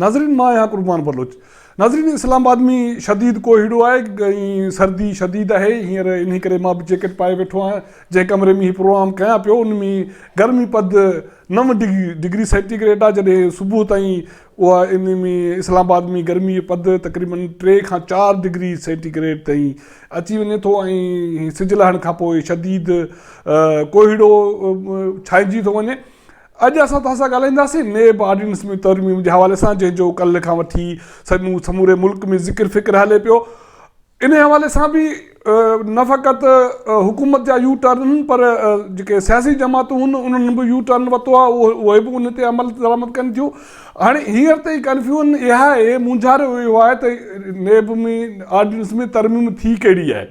ناظرين مان آهيان قربان بلوچ ناظرين اسلام آباد ۾ شديد ڪوهيڙو آهي ۽ سردي شديد آهي هينئر انهي ڪري مان به جيڪٽ پائي ويٺو آهيان جنهن ڪمري ۾ هي پروگرام ڪيان پيو ان ۾ گرمي پد نو ڊگري سينٽي گريڊ آهي جڏهن صبح تائين اها انهي ۾ اسلام آباد ۾ گرمي جو پڌر تقريباً ٽي کان چار ڊگري سينٽي گريڊ تائين اچي وڃي ٿو ۽ سج لهڻ کان پوء شديد ڪوهيڙو ڇائنجي ٿو وڃي اڄ اسان توهان سان ڳالهائينداسين نيب آرڊيننس ۾ ترميم جي حوالي سان جنهن جو ڪلهه کان وٺي سموري ملڪ ۾ ذڪر فڪر هلي پيو انهيء حوالي سان به نه فقط حڪومت جا يو ٽرن پر جيڪي سياسي جماعتون هن انهن به يو ٽرن ورتو آهي اهي به ان تي عمل درآمد ڪن ٿيون هاڻي هينئر تائين ڪنفيون اها اهي مونجهاريو اهو آهي ته نيب ۾ آرڊيننس ۾ ترميم ٿي ڪهڙي آهي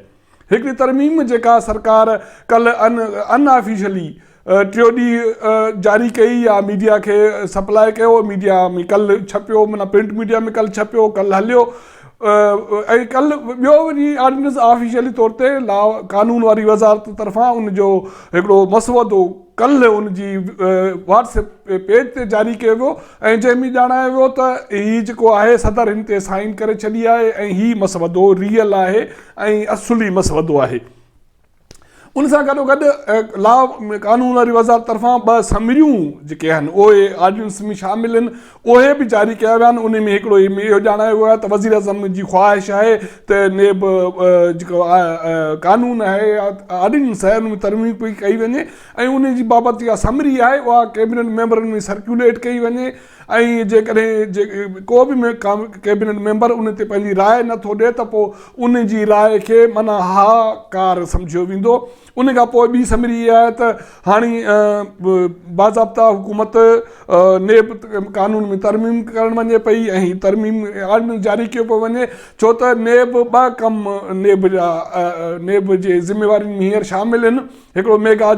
هڪڙي ترميم جيڪا سرڪار ڪلهه ان آفيشلي ٽيو ڏينهن جاري ڪئي يا ميڊيا کي سپلاء ڪيو ميڊيا ۾ ڪل ڇپيو معنيٰ پرنٽ ميڊيا ۾ ڪل ڇپيو ڪل هليو ۽ ڪل ٻيو وري آرڊيننس آفيشلي طور تي لا قانون واري وزارت طرفان ان جو هڪڙو مسودو ڪل ان جي واٽس ايپ پيج تي جاري ڪيو ويو ۽ جنهن ۾ ڄاڻايو ويو ته هي جيڪو آهي صدر هن تي سائين ڪري ڇڏي آهي ۽ هي مسودو ريئل آهي ۽ اصلي مسودو آهي. ان سان گڏوگڏ لا ۾ قانون واري وزارت طرفان ٻه سمريون جيڪي آهن اهي آرڊيننس ۾ شامل آهن اهي به جاري ڪيا ويا آهن ان ۾ هڪڙو هي اهو ڄاڻايو ويو آهي ته وزيراعظم جي خواهش آهي ته نيب جيڪو قانون آهي يا آرڊيننس آهي ان ۾ ترميم پئي ڪئي وڃي ۽ ان جي بابت جيڪا سمري آهي اها ڪيبنيٽ ميمبرن ۾ سرڪيوليٽ ڪئي وڃي ۽ جيڪڏهن ڪو به ڪيبينيٽ ميمبر ان تي پنهنجي راء نه ٿو ڏئي ته پوء ان جي راء کي منع ها ڪار سمجهيو ويندو. ان کان پوء ٻي سمري اها آهي ته هاڻي باضابطه حڪومت نيب قانون ۾ ترميم ڪرڻ وڃي پئي ۽ هي ترميم آرڊيننس جاري ڪيو پيو وڃي ڇو ته نيب ٻه ڪم نيب جا نيب جي ذميوارين ۾ هينئر شامل هن. هڪڙو ميگا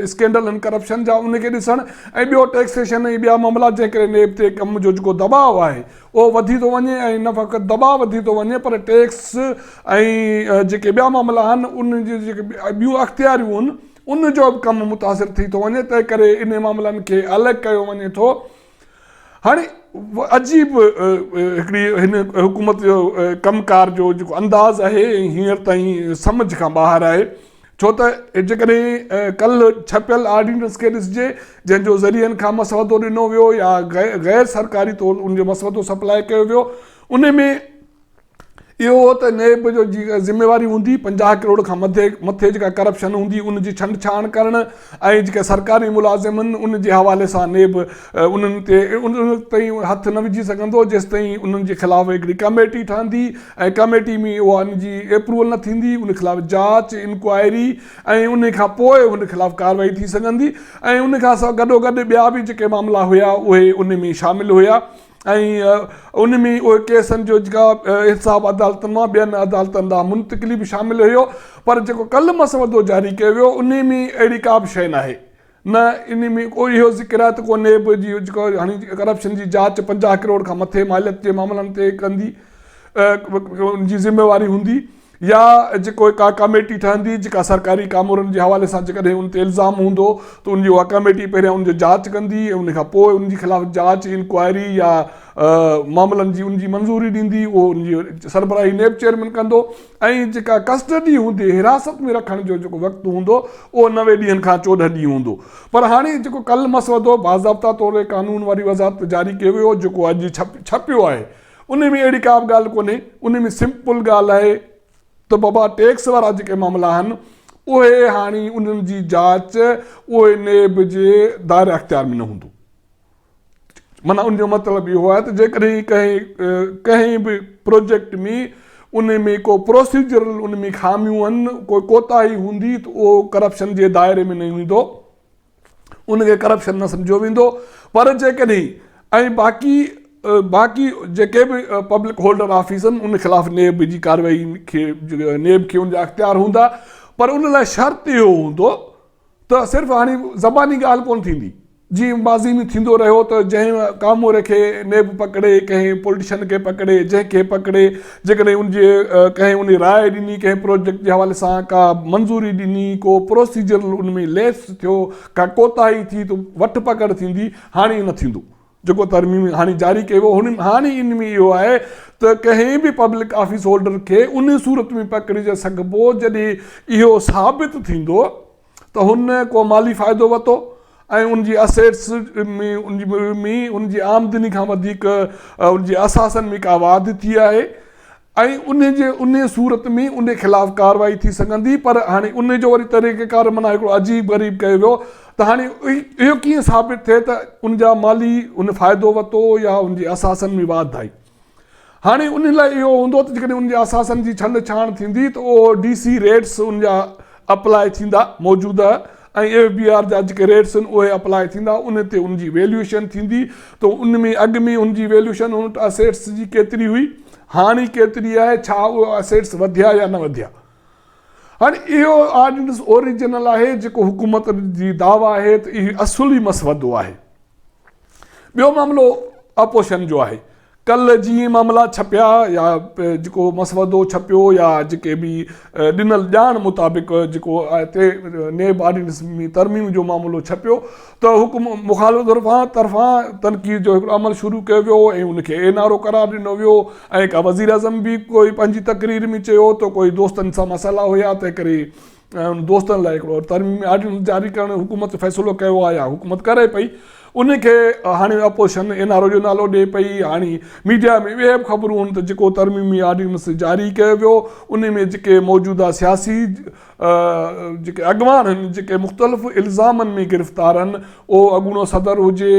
اسڪينڊل ۽ ڪرپشن جا ان کي ڏسڻ ۽ ٻيو ٽيڪسيشن ۽ ٻيا معاملا جنهن ڪري نيب تي ڪم جو جيڪو دٻاء آهي اهو وڌي ٿو وڃي ۽ نه فقط دٻاء وڌي ٿو وڃي پر ٽيڪس ۽ جيڪي ٻيا معاملا آهن ان جون جيڪي ٻيون اختياريون آهن ان جو به ڪم متاثر ٿي ٿو وڃي تنهن ڪري انهي معاملن کي الڳ ڪيو وڃي ٿو هاڻي عجيب هڪڙي هن حڪومت جو ڪم ڪار جو جيڪو انداز آهي هينئر تائين سمجهه کان ٻاهر آهي ڇو ته جيڪڏهن ڪل ڇپيل آرڊيننس کي ڏسجي جنهن جو ذريعن کان مسودو ڏنو ويو يا غير سرڪاري طور ان جو مسودو سپلاء ڪيو ويو ان ۾ اهو هو ته نيب جو ذميواري هوندي پنجاهه ڪروڙ کان مٿي جيڪا ڪرپشن هوندي ان جي ڇنڊ ڇاڻ ڪرڻ ۽ جيڪي سرڪاري ملازمن ان جي حوالي سان نيب انهن تي ان تائين هٿ نه وجهي سگهندو جيستائين انهن جي خلاف هڪڙي ڪميٽي ٺهندي ۽ ڪميٽي ۾ اها ان جي ايپروول نه ٿيندي ان خلاف جاچ انڪوائري ۽ ان کان پوء ان خلاف ڪارروائي ٿي سگهندي ۽ ان کان سواء گڏوگڏ ٻيا به جيڪي معاملا هيا اهي ان ۾ شامل هيا ۽ ان ۾ اهي ڪيسن جو جيڪا انصاف عدالتن مان ٻين عدالتن ڏانهن منتقلي به شامل هيو پر جيڪو ڪل مسودو جاري ڪيو ويو ان ۾ اهڙي ڪا به شيء ناهي نه ان ۾ ڪو اهو ذڪر آهي ته ڪو نيب جي جيڪو هاڻي ڪرپشن جي جاچ پنجاهه ڪروڙ کان مٿي ماليت جي معاملن تي ڪندي ان جي ذميواري هوندي يا جيڪو هڪ اها ڪاميٽي ٺهندي جيڪا سرڪاري ڪامورن جي حوالي سان جيڪڏهن ان تي الزام هوندو ته ان جي اها ڪاميٽي پهريان ان جو جاچ ڪندي ۽ ان کان پوء ان جي خلاف جاچ، انڪوائري يا معاملن جي ان جي منظوري ڏيندي اهو ان جي سربراهي نيب چيئرمين ڪندو ۽ جيڪا ڪسٽڊي هوندي حراست ۾ رکڻ جو جيڪو وقت هوندو اهو نوي ڏينهن کان چوڏهن ڏينهن هوندو پر هاڻي جيڪو ڪل مسودو باضابطا طور قانون واري وزارت جاري ڪيو ويو جيڪو اڄ ڇپيو آهي انهي ۾ اهڙي ڪابه ڳالهه ڪونهي، انهي ۾ سمپل ڳالهه آهي ته بابا ٽيڪس وارا جيڪي معاملا آهن اهي هاڻي انهن جي جاچ اهي نيب جي دائره اختيار ۾ نه هوندو معنيٰ ان جو مطلب اهو آهي ته جيڪڏهن ڪنهن ڪنهن به پروجيڪٽ ۾ انهي ۾ ڪو پروسيجرل انهي ۾ خاميون هن ڪوئي ڪوتاهي هوندي ته اهو ڪرپشن جي دائري ۾ نه ايندو. ان کي ڪرپشن نه سمجهيو ويندو پر جيڪڏهن ۽ باقي باقي جيڪي به پبلڪ هولڊر آفيسن ان خلاف نيب جي ڪارروائي کي نيب کي ان جا اختيار هوندا پر ان لاء شرط اهو هوندو ته صرف هاڻي زباني ڳالهه ڪون ٿيندي جي ماضي ۾ ٿيندو رهيو ته جنهن ڪاموري کي نيب پڪڙي ڪنهن پولٽيشن کي پڪڙي جنهن کي پڪڙي جيڪڏهن ان جي ڪنهن انهي راء ڏني، ڪنهن پروجيڪٽ جي حوالي سان ڪا منظوري ڏني، ڪو پروسيجرل ان ۾ ليپس ٿيو، ڪا ڪوتاهي ٿي ته وٺ پڪڙ ٿيندي، هاڻي ايئن نه ٿيندو. جيڪو ترميم هاڻي جاري ڪئي ويو هن هاڻي ان ۾ اهو آهي ته ڪنهن به پبلڪ آفيس هولڊر کي انهي صورت ۾ پڪڙي سگهبو جڏهن اهو ثابت ٿيندو ته هن ڪو مالي فائدو وتو ۽ ان جي اسيٽس ۾ ان جي آمدني کان وڌيڪ ان جي اثاثن ۾ ڪا واڌ ٿي آهي ۽ ان جي ان صورت ۾ ان خلاف ڪارروائي ٿي سگهندي پر هاڻي ان جو وري طريقه ڪار معنيٰ هڪڙو عجيب غريب ڪيو ويو ته هاڻي اهو ڪيئن ثابت ٿئي ته ان جا مالي ان فائدو وتو يا ان جي اثاثن ۾ واڌ آئي. هاڻي انهن لاء اهو هوندو ته جيڪڏهن انهن جي اثاثن جي ڇنڊ ڇاڻ ٿيندي ته اهو ڊي سي ريٽس ان جا اپلاء ٿيندا، موجوده ۽ ايف بي آر جا جيڪي ريٽس آهن اهي اپلاء ٿيندا، ان تي ان جي ويليوئيشن ٿيندي ته ان ۾ اڳ ۾ ان جي ويليوئيشن ان وٽ اسيٽس جي ڪيتري هئي هاڻي ڪيتري آهي ڇا اهي اسيٽس وڌيا يا نه وڌيا. هاڻي اهو آرڊيننس اوريجنل آهي جيڪو حڪومت جي دعويٰ آهي ته اهي اصلي مسودو آهي. ٻيو معاملو اپوزيشن جو آهي. ڪلهه جي معاملا ڇپيا يا جيڪو مسودو ڇپيو يا جيڪي به ڏنل ڄاڻ مطابق جيڪو هتي نيب آرڊيننس ۾ ترميم جو معاملو ڇپيو ته حڪم مخالف طرفان تنقيد جو هڪڙو عمل شروع ڪيو ويو ۽ ان کي اين آر او قرار ڏنو ويو ۽ وزيراعظم به ڪوئي پنهنجي تقرير ۾ چيو ته ڪوئي دوستن سان مسئلا هيا تنهنڪري ۽ دوستن لاء هڪڙو ترميمي آرڊيننس جاري ڪرڻ جو حڪومت فيصلو ڪيو آهي يا حڪومت ڪري پئي ان کي هاڻي اپوزيشن اين آر او جو نالو ڏئي پئي هاڻي ميڊيا ۾ اهي به خبرون هن ته جيڪو ترميمي آرڊيننس جاري ڪيو ويو ان ۾ جيڪي موجوده سياسي جيڪي اڳواڻ آهن جيڪي مختلف الزامن ۾ گرفتار آهن اهو اڳوڻو صدر هجي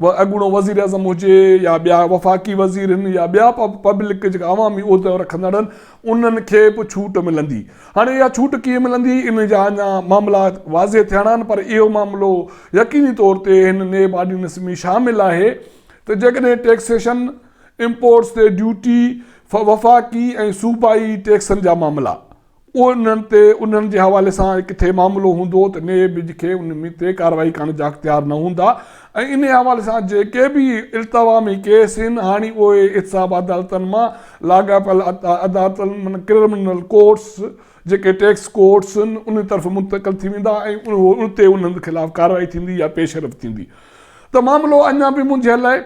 اهو اڳوڻو وزيراعظم هجي يا ٻيا وفاقي وزير هن يا ٻيا پبلڪ جيڪا عوامي عهدو رکندڙن انهن کي به ڇوٽ ملندي هاڻي اها ڇوٽ ڪيئن ملندي ان جا اڃا معاملا واضح ٿيڻا آهن پر اهو معاملو يقيني طور تي هن نيب آرڊيننس ۾ شامل آهي ته جيڪڏهن ٽيڪسيشن امپورٽس تي ڊيوٽي وفاقي ۽ صوبائي ٽيڪسن جا معاملا انهن تي انهن جي حوالي سان ڪٿي معاملو هوندو ته نيب کي ان تي ڪارروائي ڪرڻ جا اختيار نه هوندا ۽ انهي حوالي سان جيڪي به التواامي ڪيس هن هاڻي اهي احتساب عدالتن مان لاڳاپيل عدالتن معنيٰ ڪرمنل ڪورٽس جيڪي ٽيڪس ڪورٽس هن انهي طرف منتقل ٿي ويندا ۽ اتي انهن خلاف ڪارروائي ٿيندي يا پيشرفت ٿيندي ته معاملو اڃا به منجهيل آهي.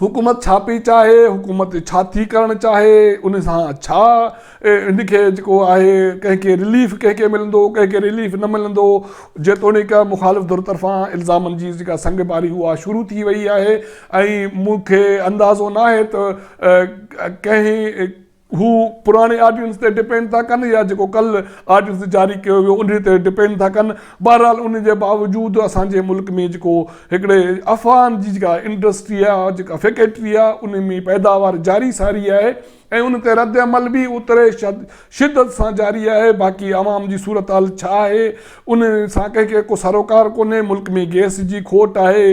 حڪومت ڇا پئي چاهي، حڪومت ڇا ٿي ڪرڻ چاهي، ان سان ڇا ان کي جيڪو آهي ڪنهن کي رليف ڪنهن کي ملندو ڪنهن کي رليف نه ملندو جيتوڻيڪ مخالف ڌر طرفان الزامن جي جيڪا سنگ باري اها شروع ٿي وئي آهي ۽ مون کي اندازو ناهي ته ڪنهن هو پراڻي آرڊيننس تي ڊپينڊ ٿا ڪن يا جيڪو ڪل آرڊيننس جاري ڪيو ويو انهي تي ڊپينڊ ٿا ڪن بهرحال انهي جي باوجود اسان جي ملڪ ۾ جيڪو هڪڙي افغان جي جيڪا انڊسٽري آهي جيڪا فيڪيٽري آهي انهي ۾ پيداوار جاري ساري آهي ۽ ان تي رد عمل به اوتري شدت سان جاري آهي باقي عوام جي صورتحال ڇا آهي انهي سان ڪنهن کي ڪو سروڪار ڪونهي ملڪ ۾ گئس جي کوٽ آهي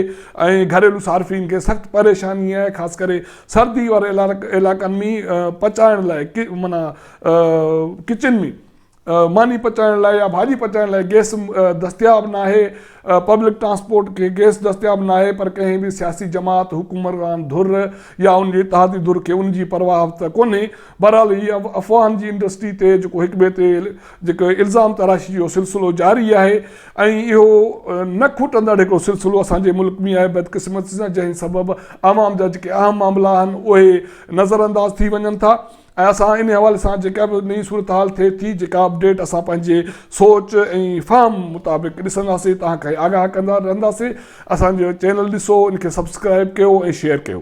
۽ گهريلو صارفين کي سخت پريشاني آهي خاص ڪري سردي واري علائقن ۾ پچائڻ لاء معنيٰ ڪچن ۾ ماني پچائڻ لاء يا ڀاڄي پچائڻ لاء گيس دستياب ناهي، پبلڪ ٽرانسپورٽ کي گيس دستياب ناهي پر ڪنهن به سياسي جماعت، حڪمران ڌر يا ان جي اتحادي ڌر کي ان جي پرواهه ته ڪونهي. بهرحال هي افواهن جي انڊسٽري تي جيڪو هڪٻئي تي جيڪو الزام تراشي جو سلسلو جاري آهي، ۽ اهو نه کوٽندڙ هڪڙو سلسلو اسان جي ملڪ ۾ آهي بدقسمتي سان جنهن سبب عوام جا جيڪي اهم معاملا آهن اهي نظر انداز ٿي وڃن ٿا ۽ اسان انهي حوالي سان جيڪا به نئين صورتحال ٿئي ٿي جيڪا اپڊيٽ اسان پنهنجي سوچ ۽ فهم مطابق ڏسنداسين توهان کي آگاهه ڪندا رهنداسين اسان جو چينل ڏسو ان کي سبسڪرائيب ڪيو ۽ شيئر ڪيو.